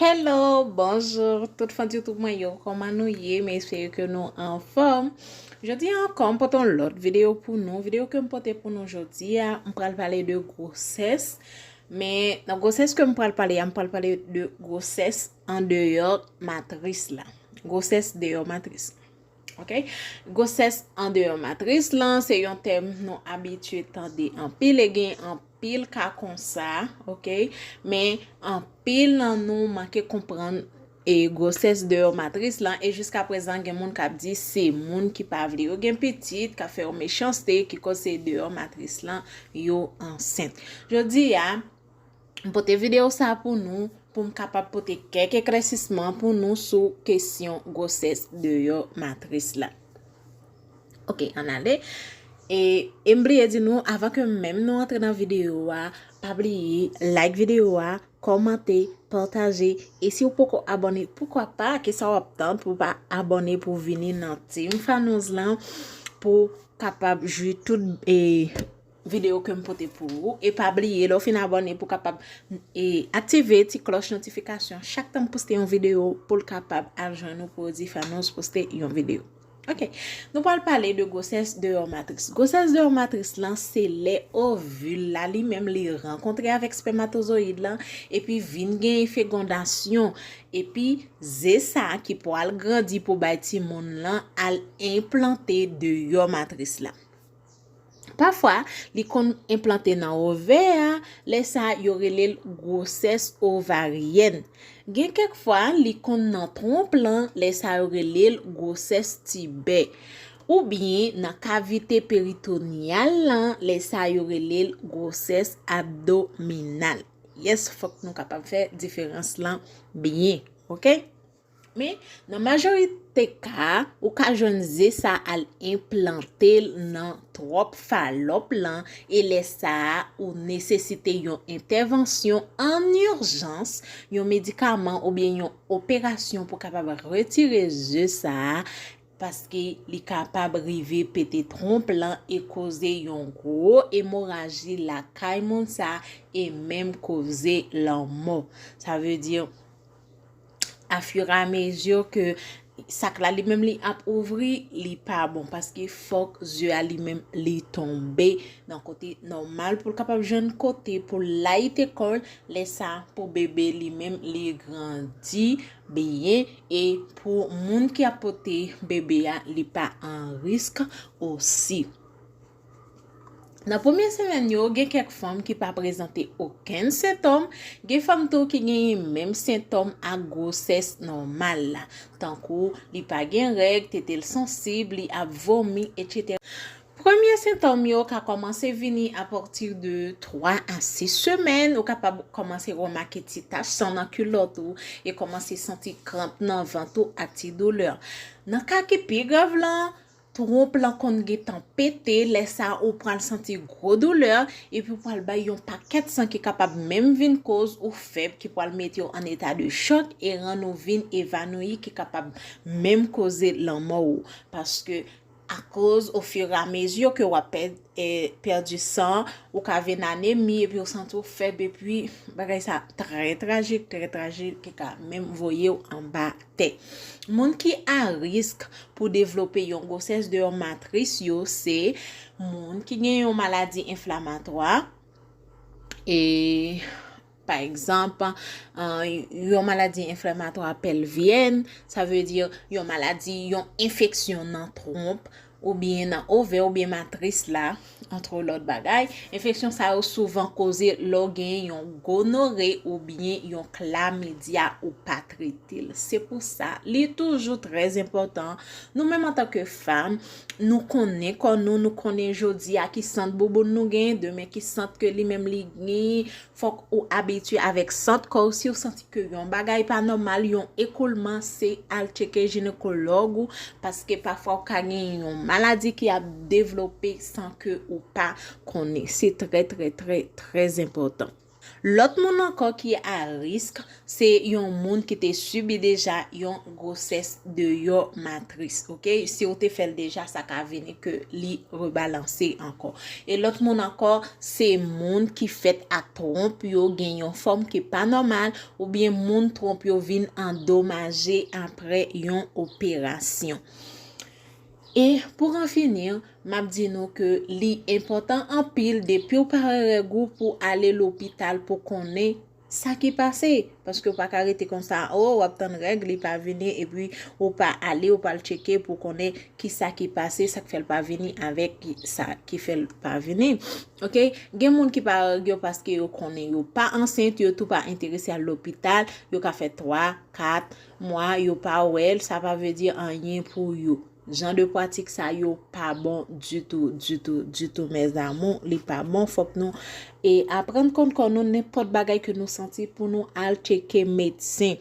Hello bonjour tout fans youtube mwen yo koman nou ye me espere ke nou anfòm jodi an ankò m pote yon lòt video pou nou video ke m pote pou nou jodi a m pral pale de gwosès men nan gwosès ke m pral pale a m pral pale de gwosès an deyò matris la gwosès deyò matris Ok, gwosès andeyò matris lan se yon tèm nou abitye tande anpil e gen anpil ka konsa, ok, men anpil nan nou manke konprann e gwosès deyò matris lan e jiska prezan gen moun kap di se moun ki pa vle yo gen pitit kap fè yon mechanste ki koz se deyò matris lan yo ansent. Jodi a. M pote videyo sa pou nou pou m kapab pote kèk eklèsisman pou nou sou kesyon gwosès deyò matris la. Ok, an ale. E, e m bliye di nou, avan ke menm nou antre nan videyo a, pa bliye like videyo a, kòmante, pataje, e si ou poko abone, poukwa pa, ki sa w ap tann pou pa abone pou vini nan Team Fanouz lan, pou kapab jwi tout, e, video kem pote pou ou e pa bliye lèw fin abòne pou kapab e aktive ti klòch notifikasyon chak tanm poste yon video poul kapab al jwenn ou pou di Fanous poste yon video ok nou pral pale de gwosès deyò matris gwosès deyò matris lan se lè ovil la li menm li rankontre avèk spèmatozoyid lan epi vin gen fegondasyon epi ze sa ki pwal grandi pou bay timoun lan al enplante deyò matris la. Pafwa, li konn enplante nan ovè a, lè sa yo rele l gwosès ovaryèn. Gen kèk fwa, li konn nan twonp lan, lè sa yo rele l gwosès tibè. Oubyen nan kavite peritonyal lan, lè sa yo rele l gwosès abdominal. Yes, fòk nou kapab fè diferans lan byen. Ok? Men, nan majorite ka, ou ka jwenn ze sa al enplante l nan twòp falòp lan e lè sa a ou nesesite yon entèvansyon an urjans, yon medikaman oubyen yon operasyon pou kapab retire ze sa a paske li kapab rive pete twonp lan e koze yon gwo emoraji lakay moun sa e menm koze lanmò. Sa vle di. afiramezi ke sak la li menm li ap ouvri, li pa bon. Paske fòk ze a li menm li tonbe nan kote nòmal pou l kapab jwenn kote pou l layite kò l. Lè sa pou bebe li menm li grandi byen e pou moun ki ap pote bebe a li pa an risk osi. Nan premye semèn yo, gen kèk fanm ki pa prezante okenn sentòm, gen fanm tou ki genyen menm sentòm ak gwosès nòmal la, tankou li pa gen règ, tete l sansib, li ap vomi, etc. Premye sentòm yo ka kòmanse vini apati de 3 a 6 semèn, ou kapab kòmanse remake ti tach san nan kilòt ou e kòmanse santi kranp nan vant ou ak ti doulè. Nan ka ki pi grav lan, Twonp lan konn gentan pete, lè sa ou pral santi gwo doulè, epi ou pral bay yon pakèt san ki kapab menm vin koz ou fèb ki pral mete w an eta de chòk e rann ou vin evanouyi ki kapab menm koze lanmò ou. Paske akoz ofiramezi ke w ap pèdi san, ou ka vin anemi epi ou santi w fèb epi bagay sa trè trajik, trè trajik ki ka menm voye w anba. tè. Moun ki a risk pou devlope yon gwosès deyò matris yo se moun ki gen yon maladi enflamatwa, e, pa egzanp, yon maladi enflamatwa pèlvyèn, sa vle di yon maladi, yon enfeksyon nan twonp, oubyen nan ovè oubyen matris la, antre lòt bagay. Enfeksyon sa yo souvan koze lè w gen yon gonore oubyen yon klamidya ou pa trete l. Se pou sa, li toujou trè enpòtan, nou menm antanke fanm, nou konnen kò nou, nou konnen jodi a ki sant bouboun nou gen, demen ki sant ke li menm li gen, Fòk ou abitye avèk sant kòw siw santi ke yon bagay pa nòmal yon ekoulman se al tcheke jinekològ ou paske pafwa ou ka gen yon maladi ki ap devlope san ke ou pa konnen se trè trè trè trè enpòtan lòt moun ankò ki a risk Se yon moun ki te sibi deja yon gwosès deyò matris, ok? Si ou te fè l deja, sa ka vini ke li rebalanse ankò. E lòt moun ankò, se moun ki fèt ak twonp yo gen yon fòm ki pa nòmal, oubyen moun twonp yo vin andomaje apre yon operasyon. E pou an fini, m ap di nou ke li enpòtan anpil depi ou pa wè règ ou pou ale lopital pou konnen Sa ki pase? Paske ou pa ka rete konsa oh wap tann règ li pa vini epi ou pa ale ou pa al tcheke pou konnen ki sa ki pase sak fèl pa vini avèk sa ki fèl pa vini ok gen moun ki pa règ yo paske yo konnen yo pa ansent yo tou pa enterese al lopital yo ka fè 3, 4 mwa yo pa wèl sa pa vle di anyen pou yo. Jan de pwatik sa yo pa bon ditou ditou ditou mes amour li pa bon fok nou e aprann konn kò nou nenpòt bagay ke nou santi pou nou al tcheke medsen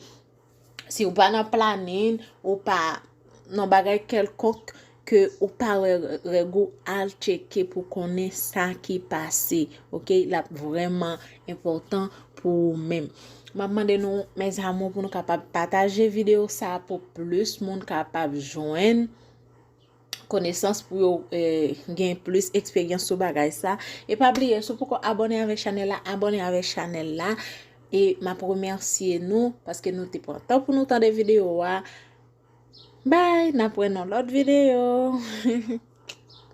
si ou pa nan planin ou pa nan bagay kelkonk ke ou pa wè règ ou al tcheke pou konnen sa ki pase ok lap vreman enpòtan pou ou menm. Map mande nou mes amour pou nou kapab pataje video sa pou plus moun kapab jwenn konesans pou yo eh, gen plus eksperyans sou bagay sa. E pa bliye sou poko abone avèk chanel la, abone avèk chanel la. E map remersye nou paske nou te pran tan pou nou tande video a. Bye, nap wè nan lòt video.